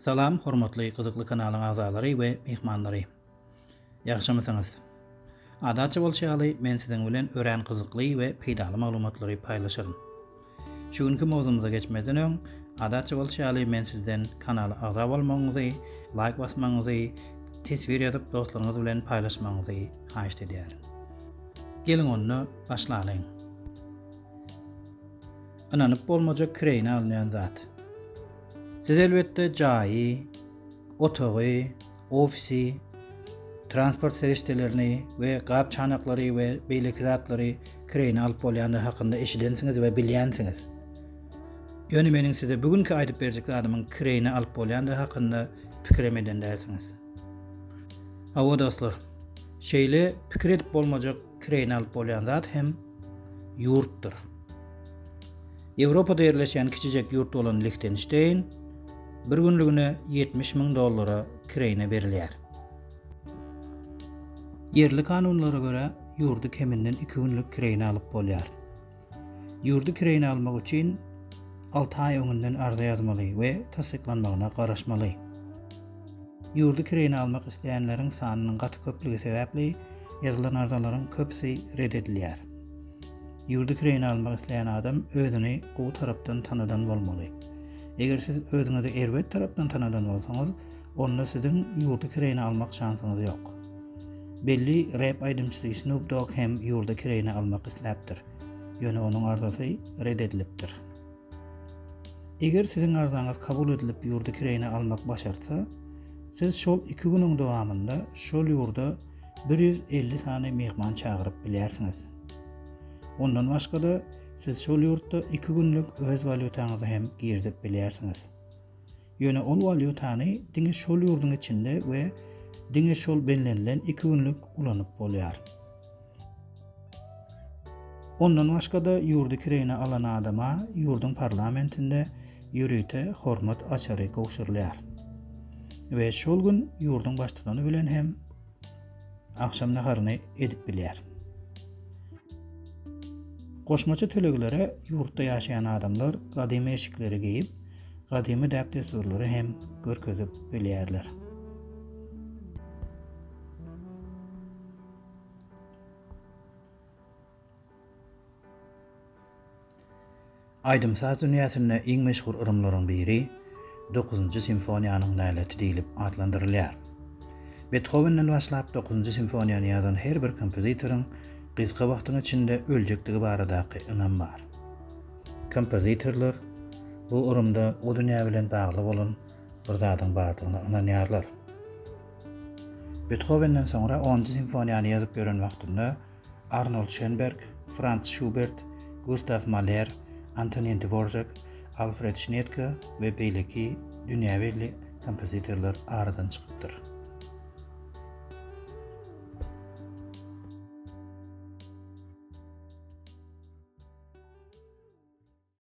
Salam hormatly gyzykly kanalyň agzalary we myhmanlary. Ýagşymysyňyz? Adatça bolşy ýaly men siziň bilen örän gyzykly we peýdaly maglumatlary paýlaşaryn. Şu günki mowzumyza geçmezden öň, adatça bolşy ýaly men sizden kanala agza bolmagyňyzy, laýk basmagyňyzy, teswir ýazyp dostlaryňyz bilen paýlaşmagyňyzy haýyşt edýärin. Geliň onda başlalyň. Ynanyp bolmajak kireýine alynýan zat. Siz elbetde jaýy, otagy, ofisi, transport serişdelerini we gap-çanaklary we beýleki zatlary kireýine alyp bolýandygy hakynda eşidensiňiz we bilýänsiňiz. Ýöne meniň size bu günki aýdyp berjek zadymyň kireýine alyp bolýandygy hakynda pikirem eden dälsiňiz. Hawa dostlar, şeýle pikir edip bolmajak Kireýine alyp bolýan zat hem ýurtdyr. Ýewropada ýerleşýän kiçijek ýurt bolan Lihtenşteýn bir günlügine 70 müň dollara kireýine berilýär. Ýerli kanunlara görä, ýurdy keminden iki günlük kireýine alyp bolýar. Ýurdy kireýine almak üçin alty aý öňünden arza ýazmaly we tassyklanmagyna garaşmaly. Ýurdy kireýine almak isleýänleriň sanynyň gaty köplügi sebäpli ýazylan arzalaryň köpüsi ret edilýär. Ýurdy kireýine almak isleýän adam özüni gowy tarapdan tanadan bolmaly. Eger siz özüňizi erbet tarapdan tanadan bolsaňyz, onda siziň ýurdy kireýine almak şansyňyz ýok. Belli rep aýdymçysy Snoop Dogg hem ýurdy kireýine almak isläpdir, ýöne onuň arzasy red edilipdir. Eger siziň arzaňyz kabul edilip ýurdy kireýine almak başartsa, siz şol iki günüň dowamynda şol ýurda 150 sany myhman çagyryp bilýärsiňiz. Ondan başga-da, siz şol ýurtda iki günlük öz walýutaňyzy hem girizip bilýärsiňiz. Ýöne ol walýutany diňe şol ýurduň içinde we diňe şol bellenilen iki günlük ulanyp bolýar. Ondan başga-da ýurdy kireýine alan adama ýurduň parlamentinde ýörite hormat açary gowşurylýar we şol gün ýurduň baştutany bilen hem agşam naharyny edip bilýär. Goşmaça töleglere ýurtda ýaşaýan adamlar gadymy eşikleri geýip, gadymy däp-dessurlary hem görkezip bilýärler. Aýdym-saz dünýäsinde iň meşhur yrymlaryň biri Dokuzynjy simfoniýanyň näleti diýlip atlandyrylýar. Bethowenden başlap Dokuzynjy simfoniýany ýazan her bir kompozitoryň gysga wagtyň içinde öljekdigi baradaky ynam bar. Kompozitorlar bu yrymda o dünýä bilen bagly bolan bir zadyň bardygyna ynanýarlar. Bethowenden soňra onunjy simfoniýany ýazyp ýören wagtynda Arnold Şönberg, Frans Şubert, Gustaw Maler, Antonin Dvorzak, Alfred Şnedke we beýleki dünýä belli kompozitorlar aradan çykypdyr.